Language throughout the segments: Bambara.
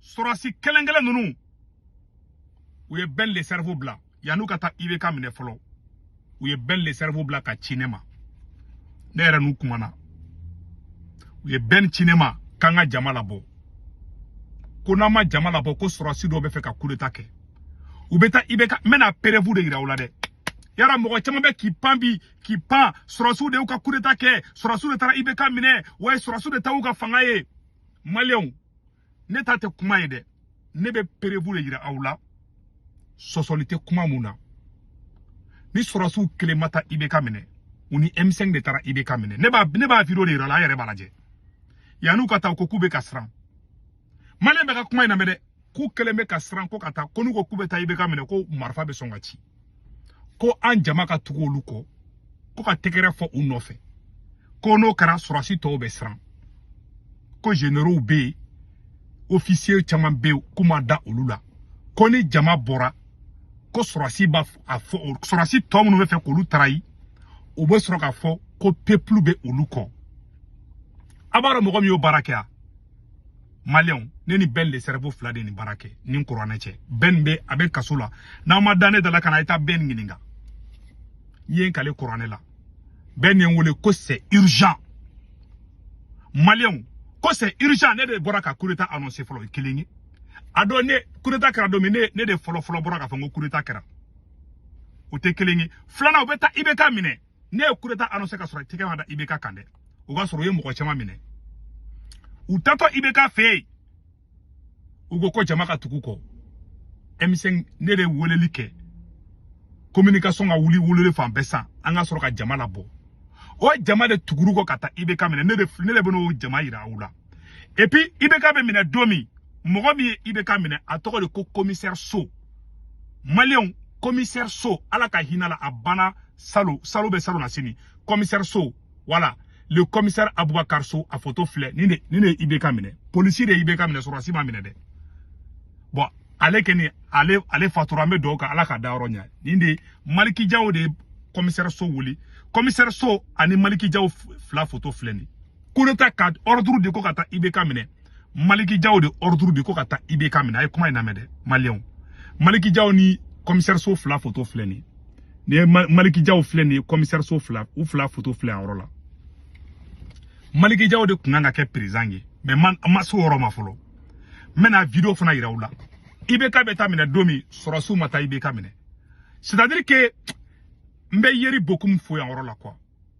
sɔrɔsi kelenkelen ninnu u ye bɛn le cerveau bila yan'u ka taa ibk minɛ fɔlɔ u ye bɛn le cerveau bila ka ci ne ma ne yɛrɛ n'u kumana u ye bɛn ci ne ma k'an ka jama labɔ ko n'an ma jama labɔ ko sɔrɔsi dɔw bɛ fɛ ka kudeta kɛ u bɛ taa ibk n bɛna preuve de yira aw la dɛ yara mɔgɔ caman bɛ k'i pan bi k'i pan sɔrɔsiw de y'u ka kudeta kɛ sɔrɔsiw de taara ibk minɛ wa sɔrɔsiw de ta u ka fanga ye maliyɛnw ne ta tɛ kuma ye dɛ ne bɛ preuve de yira aw la sɔsɔli tɛ kuma mun na ni sɔrɔsiw kelen ma taa ibk minɛ u ni m5 de taara ibk minɛ ne b'a ne b'a video de yira aw la aw yɛrɛ b'a lajɛ yan'u ka taa u ko k'u bɛ ka siran maliyɛn bɛɛ ka kuma in lamɛn dɛ k'u kɛlen bɛ ka siran ko ka taa ko n'u ko k'u bɛ taa IBK minɛ ko marifa bɛ sɔn ka ci ko an jama ka tugu olu kɔ ko ka tɛgɛrɛ fɔ u nɔfɛ ko n'o kɛra sɔrɔsi tɔw bɛ siran ko généraux bɛ yen ofisiye caman bɛ yen k'u ma da olu la ko ni jama bɔra ko sɔrɔsi b'a a fɔ sɔrɔsi tɔ minnu bɛ fɛ k'olu trahir u bɛ sɔrɔ k'a fɔ ko peuple bɛ olu kɔ a baara mɔgɔ min y'o baara kɛ yan maliyɛnw ne ni bɛn le cerveau fila de nin baara kɛ n ni kuranɛ cɛ bɛn bɛ a bɛ kaso la n'aw ma da ne da la ka na i taa bɛn ɲininka n ye n kali kuranɛ la bɛn de ye n wele ko c'est urgent maliyɛnw ko c'est urgent ne de bɔra ka kudeta annoncer fɔlɔ o ye kelen ye a don ne kudeta kɛra don min ne ne de fɔlɔ fɔlɔ bɔra k'a fɔ n ko kudeta kɛra o tɛ kelen ye filanan u bɛ taa ibk minɛ ne ye kudeta annoncer ka sɔrɔ tɛgɛ ma da IBK kan dɛ o ka sɔrɔ u ye mɔgɔ caman minɛ u taatɔ IBK fɛ yen u ko ko jama ka tugu u kɔ m5 ne de weleli kɛ communication ka wuli weleli fan bɛɛ san an ka sɔrɔ ka jama labɔ o jama de tugura u kɔ ka taa IBK minɛ ne de ne de bɛn'o jama yira aw la et puis IBK bɛ minɛ don min mɔgɔ min ye IBK minɛ a tɔgɔ de ko commissaire So maliyɛnw commissaire So ala ka hinɛ a la a banna salon salon bɛ salonnasini commissaire So voilà le commissaire Aboubacar So a photo filɛ nin de nin de ye IBK minɛ polisi de ye IBK minɛ sɔrɔdasi m'a minɛ dɛ bon ale kɔni ale ale fatura an bɛ dugawu kɛ ala k'a dayɔrɔ ɲɛ nin de maliki jaw de ye commissaire So wuli commissaire So ani maliki jaw fila photo filɛ nin kudeta ka ordre di ko ka taa IBK minɛ Maliki Jaw de ordre di ko ka taa IBK minɛ a ye kuma in lamɛn dɛ maliyɛnw Maliki Jaw ni commissaire so fila foto filɛ nin ye nin ye Maliki Jaw filɛ nin ye commissaire so fila u fila foto filɛ yan yɔrɔ la Maliki Jaw de kun kan ka kɛ président ye mais man an ma s'o yɔrɔ ma fɔlɔ n bɛna video fana yira aw la IBK bɛ taa minɛ don min sɔrɔsiw ma taa IBK minɛ c'est à dire que n bɛ yeri bokum fo yan yɔrɔ la quoi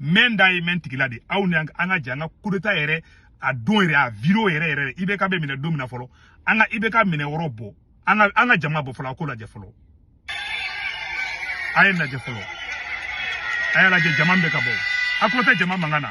mɛn da ye mɛn tigi la de aw ni an ka jɛ an ka kudeta yɛrɛ a don yɛrɛ a video yɛrɛ yɛrɛ IBK bɛ minɛ don min na fɔlɔ an ka IBK minɛ yɔrɔ bɔ an ka an ka jama bɔ fɔlɔ an k'o lajɛ fɔlɔ a ye lajɛ fɔlɔ a y'a lajɛ jama bɛ ka bɔ a tulo tɛ jama mankan na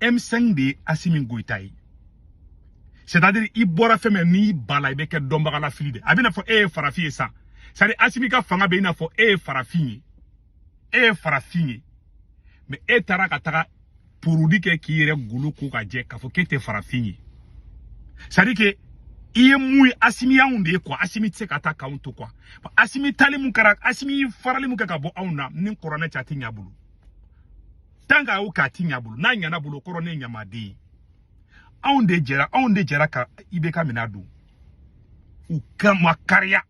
M5 de ye Asimi Goyita ye c'est à dire i bɔra fɛn min n'i ban a la i bɛ kɛ dɔnbaga lafili de a b'i n'a fɔ e ye farafin ye sa c'est à dire Asimi ka fanga bɛ i n'a fɔ e ye farafin ye e ye farafin ye mais e taara ka taga produit kɛ k'i yɛrɛ golo ko ka jɛ k'a fɔ k'e tɛ farafin ye c'est à dire que i ye mun ye asimi y'anw de ye quoi asimi tɛ se ka taa k'anw to quoi asimi taali mun kɛra asimi farali mun kɛ ka bɔ anw na ni kuranɛ cɛ a tɛ ɲɛ a bolo tant qu'a y'o k'a tɛ ɲ'a bolo n'a ɲan'a bolo kɔrɔ ne ɲamaden ye anw de jɛra anw de jɛra ka IBK minɛ don u ka ma kariya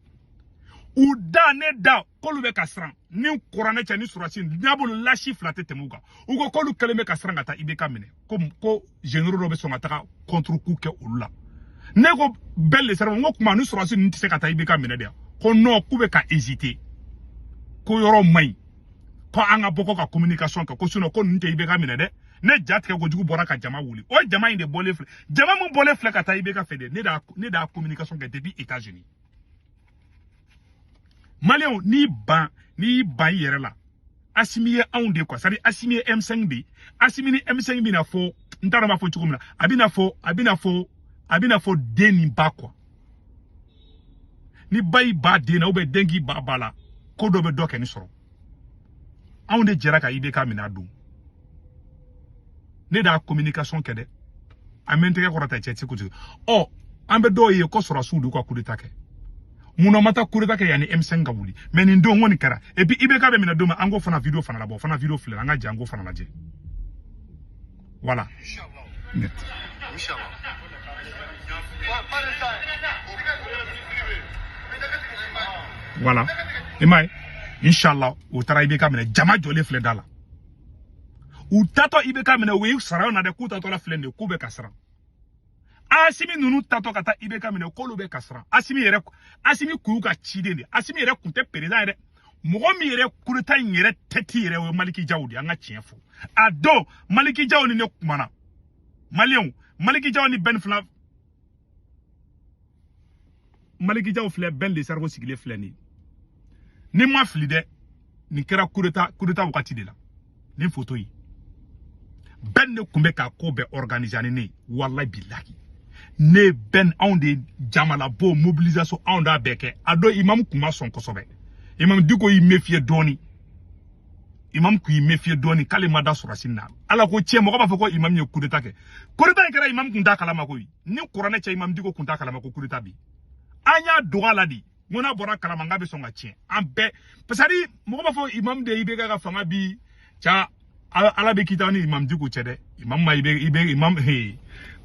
u da ne da k'olu bɛ ka siran ni kuranɛ cɛ ni surasi n'a bolo lasi fila tɛ tɛmɛ u kan u ko k'olu kɛlen bɛ ka siran ka taa IBK minɛ ko ko généraux dɔ bɛ sɔn ka taga contre-coup kɛ olu la ne ko Ben le Cerveau n ko kuma ni surasi ninnu tɛ se ka taa IBK minɛ de yan ko nɔn k'u bɛ ka hésiter ko yɔrɔ man ɲi ko an ka bɔ ko ka communication kɛ ko sinon ko ninnu tɛ IBK minɛ dɛ ne ja tigɛ kojugu bɔra ka jama wuli o jama in de bɔlen filɛ jama min bɔlen filɛ ka taa IBK fɛ de ne d'a ne d'a communication kɛ depuis États-Unis maliyɛnw n'i ban n'i ban i yɛrɛ la asimi ye anw de quoi c'est à dire asimi ye M5 de ye asimi ni M5 b'i n'a fɔ n t'a dɔn n b'a fɔ cogo min na a b'i n'a fɔ a b'i n'a fɔ a b'i n'a fɔ den ni ba quoi ni ba y'i ban den na ou bien den k'i ban ba la ko dɔ bɛ dɔ kɛ ni sɔrɔ anw de jɛra ka IBK minɛ a don ne d'a communication kɛ dɛ a mɛ n tɛgɛ kɔrɔta cɛ ti kutu ɔ an bɛ dɔw ye ko sɔrɔsiw de ka kudeta kɛ mun na u ma taa kudeta kɛ yanni M5 ka wuli mais nin don kɔni kɛra et puis IBK bɛ minɛ don min an k'o fana video fana labɔ o fana video filɛ an ka jɛ an k'o fana lajɛ voilà. inshallah. voilà i m'a ye inshallah u taara IBK minɛ jama jɔlen filɛ da la u taatɔ IBK minɛ u ye sara na dɛ k'u taatɔ la filɛ nin ye k'u bɛ ka siran asimi ninnu taatɔ ka taa IBK minɛ k'olu bɛ ka siran asimi yɛrɛ asimi kun y'u ka ciden de ye asimi yɛrɛ kun tɛ présent ye dɛ mɔgɔ min yɛrɛ kudeta in yɛrɛ tête yɛrɛ o ye maliki jaw de an ka tiɲɛ fɔ a dɔn maliki jaw ni ne kumana maliyɛnw maliki jaw ni Ben fila maliki jaw filɛ Ben le Cerveau sigilen filɛ nin ye ni n ma fili dɛ nin kɛra kudeta kudeta wagati de la ni foto ye bɛn ne tun bɛ k'a ko bɛɛ organise ani ne ye walayi bilahi ne ni bɛn anw de jama labɔ mobilisation anw d'a bɛɛ kɛ a don imamu tun ma sɔn kosɛbɛ imamu diko y'i mefiye dɔɔni imamu tun y'i mefiye dɔɔni k'ale ma da sɔrɔsi na ala ko tiɲɛ mɔgɔ b'a fɔ ko imamu ye kudeta kɛ kudeta in kɛra imamu tun t'a kalama koyi ni kuranɛ cɛ imamu diko tun t'a kalama ko kudeta bi an y'a dog'a la de n ko n'a bɔra kalama n k'a bɛ sɔn k'a tiɲɛ an bɛɛ pasari mɔgɔ b'a fɔ imamu de ibk ka fanga bin ca ala bɛ kiti an ni imamu diko cɛ dɛ imamu ma i bɛ i bɛ imamu he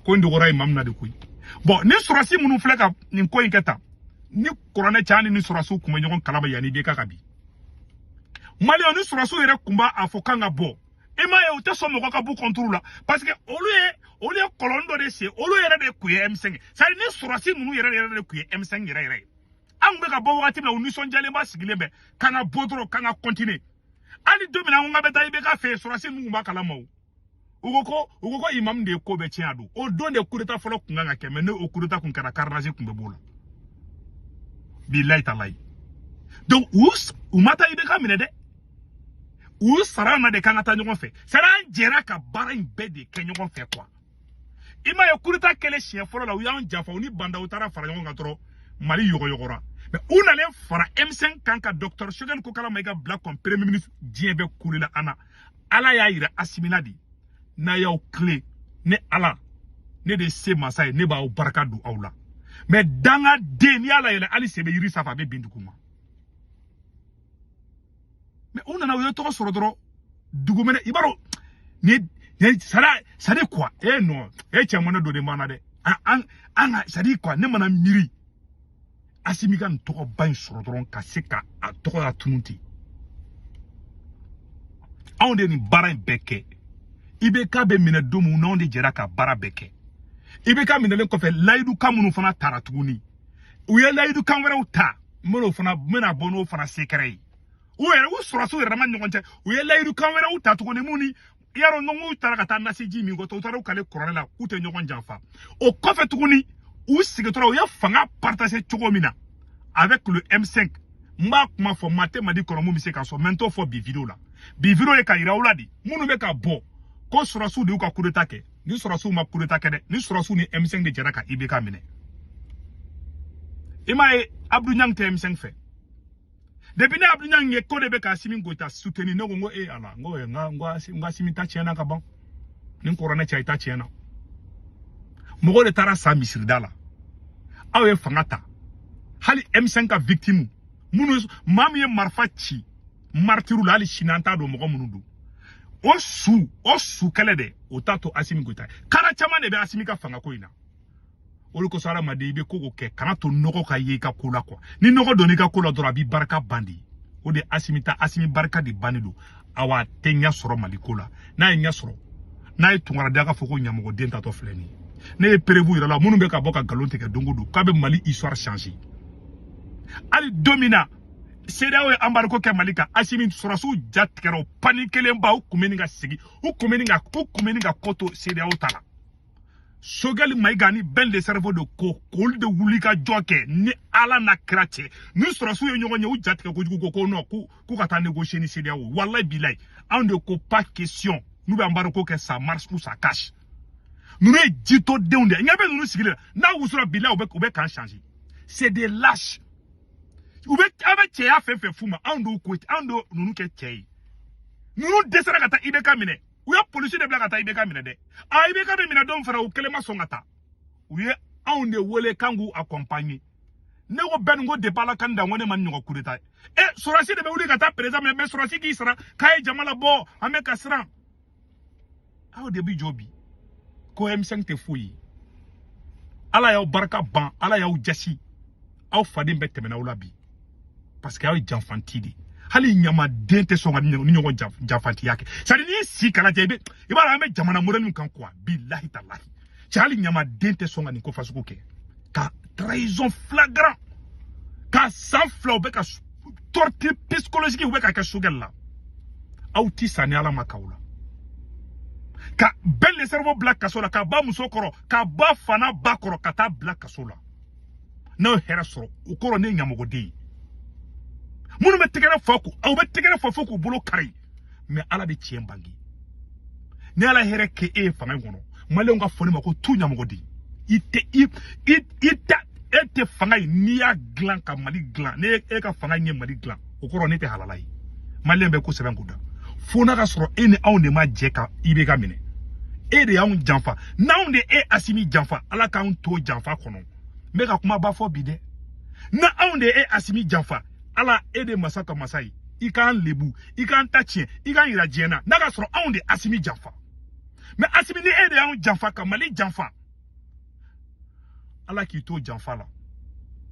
ko in dogora imamu na de koyi bɔn ni sɔrɔsi minnu filɛ ka nin ko in kɛ tan ni kuranɛ ca an ni sɔrɔsiw kun bɛ ɲɔgɔn kalama yanni ibk ka bin maliyɛn ni sɔrɔsiw yɛrɛ kun b'a a fɔ k'an ka bɔ i m'a ye u tɛ sɔn mɔgɔ ka b'u contrôle la parce que olu ye olu ye kɔlɔn dɔ de sen olu yɛrɛ de kun ye M5 sari ni sɔrɔsi ninnu yɛrɛ yɛrɛ de kun ye M5 yɛrɛ yɛrɛ ye an kun bɛ ka bɔ wagati min na u nisɔndiyalenba sigilen bɛ k'an ka bɔ dɔrɔn k'an ka kɔntine hali don min na an ko k'an bɛ taa ibk fɛ yen sɔrɔsi ninnu kun b'a kalama o u ko ko u ko ko imamu de ye ko bɛɛ tiɲɛ a don o don de kudeta fɔlɔ kun kan ka kɛ mɛ n'o kudeta kun kɛra carnage kun bɛ b'o la bilayi talayi donc u u ma taa ibk minɛ dɛ u sara an na de k'an ka taa ɲɔgɔn fɛ sara an jɛra ka baara in bɛɛ de kɛ ɲɔgɔn fɛ kuwa i m'a ye kudeta kɛlen siɲɛ fɔlɔ la u y'an janfa u ni ba ndaw taara fara ɲɔgɔn kan dɔrɔn mali yɔgɔyɔgɔra mɛ u nalen fara M5 kan ka dɔktɔr sogɛli kokala mayiga bila comme premier ministre diɲɛ bɛɛ kulela an na ala y'a yira asimi na de n'a y'aw kile ne ala ne de se masa ye ne b'aw barika don aw la mɛ dangaden n'i y'a layɛlɛ hali sebe yiri sanfɛ a bɛ bin duguma mɛ u nana u ye tɔgɔ sɔrɔ dɔrɔn dugumɛnɛ i b'a dɔn ni ni sara sari kuwa non cɛ mɔnɛ dɔ de b'an na dɛ an an ka sari kuwa ne mana miiri asimi ka nin tɔgɔba in sɔrɔ dɔrɔn ka se ka a tɔgɔ latunun ten anw de nin baara in bɛɛ kɛ ibk bɛ minɛ don min na anw de jɛra ka baara bɛɛ kɛ ibk minɛlen kɔfɛ layidu kan minnu fana tara tuguni u ye layidu kan wɛrɛw ta n bɛn'o fana n bɛna bɔ n'o fana sekɛrɛ ye u yɛrɛ u sɔrɔsiw yɛrɛma ɲɔgɔn cɛ u ye layidu kan wɛrɛw ta tuguni mun ni y'a dɔn n'u taara ka taa nasiji min kɔtɔ u taara u kali kuranɛ na k'u tɛ ɲɔgɔn janfa o kɔfɛ tuguni u sigitɔla u ye fanga partager cogo min na avec le M5 n b'a kuma fɔ maa tɛ mali kɔnɔ min bɛ se k'a sɔsɔ mɛ n t'o fɔ bi video la bi video ye k'a yira aw la de minnu bɛ k'a fɔ ko sɔrɔsiw de y'u ka kudeta kɛ ni sɔrɔsiw ma kudeta kɛ dɛ ni sɔrɔsiw ni M5 de jɛra ka ibk minɛ i m'a ye abdu ɲang tɛ M5 fɛ depuis ne abdu ɲang ye k'o de bɛ k'asimi goyita suteni ne ko n ko e ala n ko n k'asimi ta tiɲɛna ka ban ni kuranɛ cɛ i ta tiɲɛna mɔgɔw de taara sa misirida la aw ye fanga ta hali M5 ka victime minnu maa min ye marifa ci maritiru la hali sini an t'a dɔn mɔgɔ minnu don o su o su kɛlɛ de o t'a to asimi goyita kara caman de bɛ asimi ka fanga ko in na olu kosɔn adamaden i bɛ ko ko kɛ kan'a to nɔgɔ ka ye i ka ko la quoi ni nɔgɔ donna i ka ko la dɔrɔn a b'i barika ban dɛ o de asimi ta asimi barika de bannen don awa a tɛ ɲɛ sɔrɔ mali ko la n'a ye ɲɛ sɔrɔ n'a ye tunkara da k'a fɔ ko ɲamɔgɔden taatɔ filɛ nin ye ne ye preuve yira a la minnu bɛ ka bɔ ka nkalon tigɛ don o don k'a bɛ mali histoire changer hali don min na CEDEAO ye embargo kɛ Mali kan Asimi sɔrɔsiw ja tigɛra u panikelenba u kun bɛ ɲini ka segin u kun bɛ ɲini ka u kun bɛ ɲini ka ko to CEDEAO ta la Sogɛli Mayiga ani Ben le Cerveau de ko k'olu de wuli ka jɔ kɛ ni Ala n'a kira cɛ ni sɔrɔsiw ye ɲɔgɔn ye u ja tigɛ kojugu ko ko non k'u k'u ka taa négocier ni CEDEAO walayi bilayi anw de ko pas question n'u bɛ embargo kɛ ça marche ou ça casse ninnu ye jitɔdenw de ye ɲɛ bɛ ninnu sigilen n'a wusura bilayi u bɛ u bɛ kan changer c'est des lâches u bɛ aw bɛ cɛya fɛn fɛn f'u ma anw de ko anw de ninnu kɛ cɛ ye ninnu dɛsɛra ka taa IBK minɛ u ye polisi de bila ka taa IBK minɛ dɛ a IBK bɛ minɛ don fana u kelen ma sɔn ka taa u ye anw de wele k'an k'u accompagner ne ko Ben ko depuis ala k'an dan ko ne ma nin ɲɔgɔn kudeta ye e sɔrɔsi de bɛ wuli ka taa président minɛ mais sɔrɔsi k'i sara k'a ye jama labɔ an bɛ ka siran aw de bi jɔ bi ko M5 tɛ foyi ye ala y'aw barika ban ala y'aw jasi aw faden bɛɛ tɛmɛna aw la bi parce que aw ye janfanti de hali ɲamaden tɛ sɔn ka nin ɲɔgɔn janfantiya kɛ c'est à dire n'i sigi k'a lajɛ i bɛ i b'a dɔn an bɛ jamana mɔdɛli min kan quoi bilahi talahi cɛ hali ɲamaden tɛ sɔn ka nin ko fasugu kɛ ka trahison flagrant ka san fila u bɛ ka torture psychologique u bɛ ka kɛ sogɛli la aw ti sa ni ala ma k'aw la ka Ben le Cerveau bila kaso la k'a ba musokɔrɔ k'a ba fana ba kɔrɔ ka taa bila kaso la n'aw ye hɛrɛ sɔrɔ o kɔrɔ ne ye ɲamɔgɔden ye minnu bɛ tɛgɛrɛ fɔ ko aw bɛ tɛgɛrɛ fɔ fo k'u bolo kari mais ala bɛ tiɲɛ bange ni ala hɛrɛ kɛ e ye fanga in kɔnɔ maliyɛnw k'a fɔ ne ma ko tu ɲamɔgɔden i tɛ i i i ta e tɛ fanga in n'i y'a dilan ka mali dilan ni e ka fanga in ye mali dilan o kɔrɔ ne tɛ halala ye maliyɛn bɛɛ k'o sɛbɛn k'o da fo n'a ka sɔrɔ e ni anw de ma jɛ ka IBK minɛ e de y'anw janfa n'anw de e asimi janfa ala k'anw to janfa kɔnɔ n bɛ ka kumaba fɔ bi dɛ ni anw de e asimi janfa ala e de masa ka masa ye i k'an lebu i k'an ta tiɲɛ i k'an yira diɲɛ na n'a ka sɔrɔ anw de asimi janfa mais asimi ni e de y'anw janfa ka mali janfa ala k'i to janfa la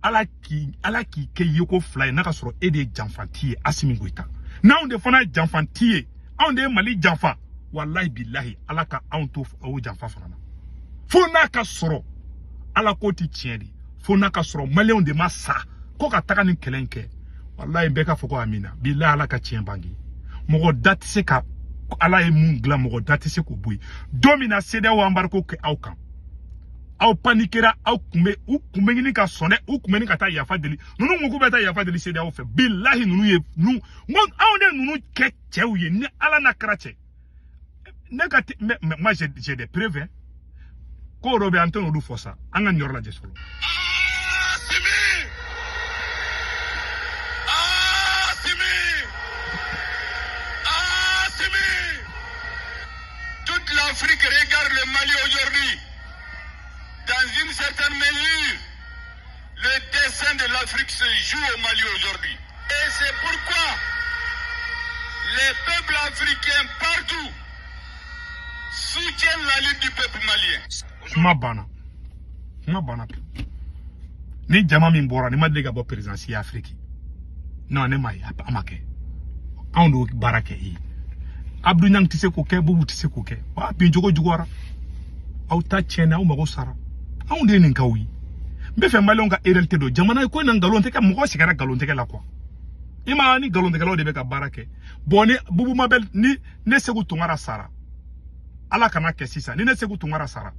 ala k'i ala k'i kɛ yeko fila ye n'a ka sɔrɔ e de ye janfanti ye asimi goyita n'anw de fana ye janfanti ye anw de ye mali janfa walayi bilahi ala ka anw to o janfa fana na fo n'a ka sɔrɔ ala ko ti tiɲɛ dɛ fo n'a k'a sɔrɔ maliyɛnw de ma sa ko ka taga nin kɛlɛ in kɛ walayi bɛɛ k'a fɔ ko amina bilayi ala ka tiɲɛ bange mɔgɔ da tɛ se ka ala ye mun dilan mɔgɔ da tɛ se k'o bɔ yen don min na sedeyaw anbariko kɛ aw kan aw panikera aw kun bɛ u kun bɛ ɲini ka sɔn dɛ u kun bɛ ɲini ka taa yafa deli ninnu ko k'u bɛ taa yafa deli sedeyaw fɛ bilahi ninnu ye ninnu n ko anw de ninnu kɛ cɛw ye ni ala n'a kira cɛ ne ka mais moi j'ai des preuves hein. ko dɔ bɛ an tɛn'olu fɔ sa an ka nin yɔrɔ lajɛ fɔlɔ. Toute l'Afrique regarde le Mali aujourd'hui dans une certaine mesure. Le destin de l'Afrique se joue au Mali aujourd'hui. Et c'est pourquoi les peuples africains partout soutiennent la lutte du peuple malien. Kuma banna kuma banna ni jama min bɔra ni ma deli ka bɔ perezidan si ye afiriki non ne m'a ye a ma kɛ anw de y'o baara kɛ i ye abdu ɲang tɛ se k'o kɛ bubu tɛ se k'o kɛ w'aw bincogo juguyara aw ta tiɲɛna aw mago sara anw de ye nin k'aw ye n b'a fɛ maliyɛnw ka réalité dɔn jamana ko in na nkalon tɛ kɛ mɔgɔ sigara nkalontigɛ la quoi i ma ni nkalontigɛlaw de bɛ ka baara kɛ bɔn ni bubu mabɛl ni ne seku tunkara sara ala kan'a kɛ sisan ni ne seku tunkara sara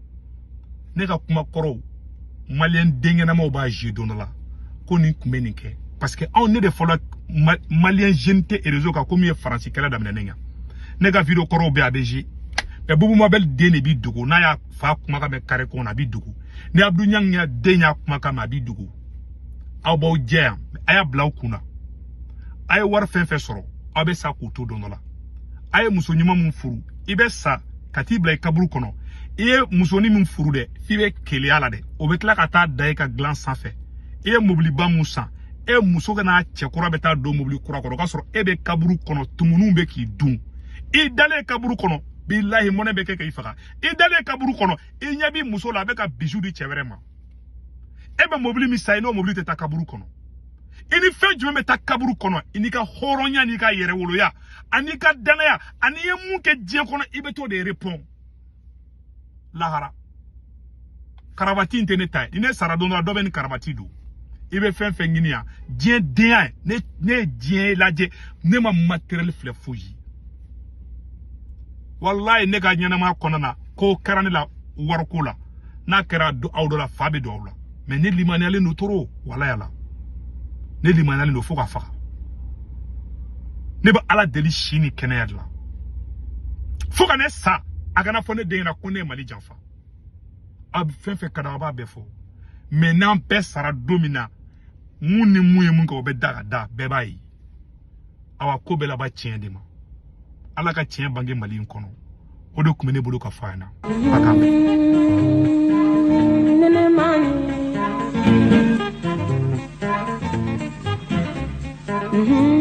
ne ka kuma kɔrɔw maliyɛn denkɛnɛmaw b'a je don dɔ la ko nin tun bɛ nin kɛ parce que anw ne de fɔlɔ maliyɛn jeune tɛ erezo kan ko min ye faransi kɛlɛ daminɛ ne ɲɛ ne ka video kɔrɔw bɛ a bɛ je mais bubu mabɛl den de b'i dogo n'a y'a fa kumakan mɛn kare kɔnɔ a b'i dogo ni abdu ɲang y'a den y'a kumakan mɛn a b'i dogo aw b'aw jɛ yan a y'a bila aw kun na a ye wari fɛn fɛn sɔrɔ aw bɛ sa k'u to don dɔ la a ye muso ɲuman min furu i bɛ sa ka t'i bila i kaburu kɔnɔ i ye musonin min furu dɛ f'i bɛ keleya la dɛ o bɛ tila ka taa da i ka dilan sanfɛ i ye mobiliba mun san e muso ka n'a cɛ kura bɛ taa don mobili kura kɔnɔ o k'a sɔrɔ e bɛ kaburu kɔnɔ tumuninw bɛ k'i dun i dalen kaburu kɔnɔ bilahi mɔnɛ bɛ kɛ k'i faga i dalen kaburu kɔnɔ i ɲɛ b'i muso la a bɛ ka bisou di cɛ wɛrɛ ma e bɛ mobili min san i n'o mobili tɛ taa kaburu kɔnɔ i ni fɛn jumɛn bɛ taa kaburu kɔnɔ i n'i ka hɔrɔnya n'i ka yɛrɛwoloya an'i ka dannaya an'i ye mun kɛ diɲɛ kɔnɔ i bɛ t'o de repɔn lahara karabati in tɛ ne ta ye ni ne sara don dɔ la dɔ bɛ nin karabati don i bɛ fɛn fɛn ɲini yan diɲɛ de yan ne ne ye diɲɛ lajɛ ne ma matériel filɛ foyi ye walayi ne ka ɲɛnɛmaya kɔnɔna na ko kɛra ne la wariko la n'a kɛra aw dɔ la fa bɛ don aw la mɛ ne limaniyalen don toro walayi ala ne limaniyalen don fo ka fa ne bɛ ala deli si ni kɛnɛya de la fo ka ne sa a kana fɔ ne den ɲɛna ko ne ye mali janfa a bɛ fɛn fɛn ka d'a b'a bɛɛ fɔ mɛ n'an bɛɛ sara don min na mun ni mun ye mun kɛ o bɛ da ka da bɛɛ b'a ye awa ko bɛɛ laban tiɲɛ de ma ala ka tiɲɛ bange mali in kɔnɔ o de tun bɛ ne bolo k'a fɔ a ɲɛna a k'a mɛn Mm-hmm.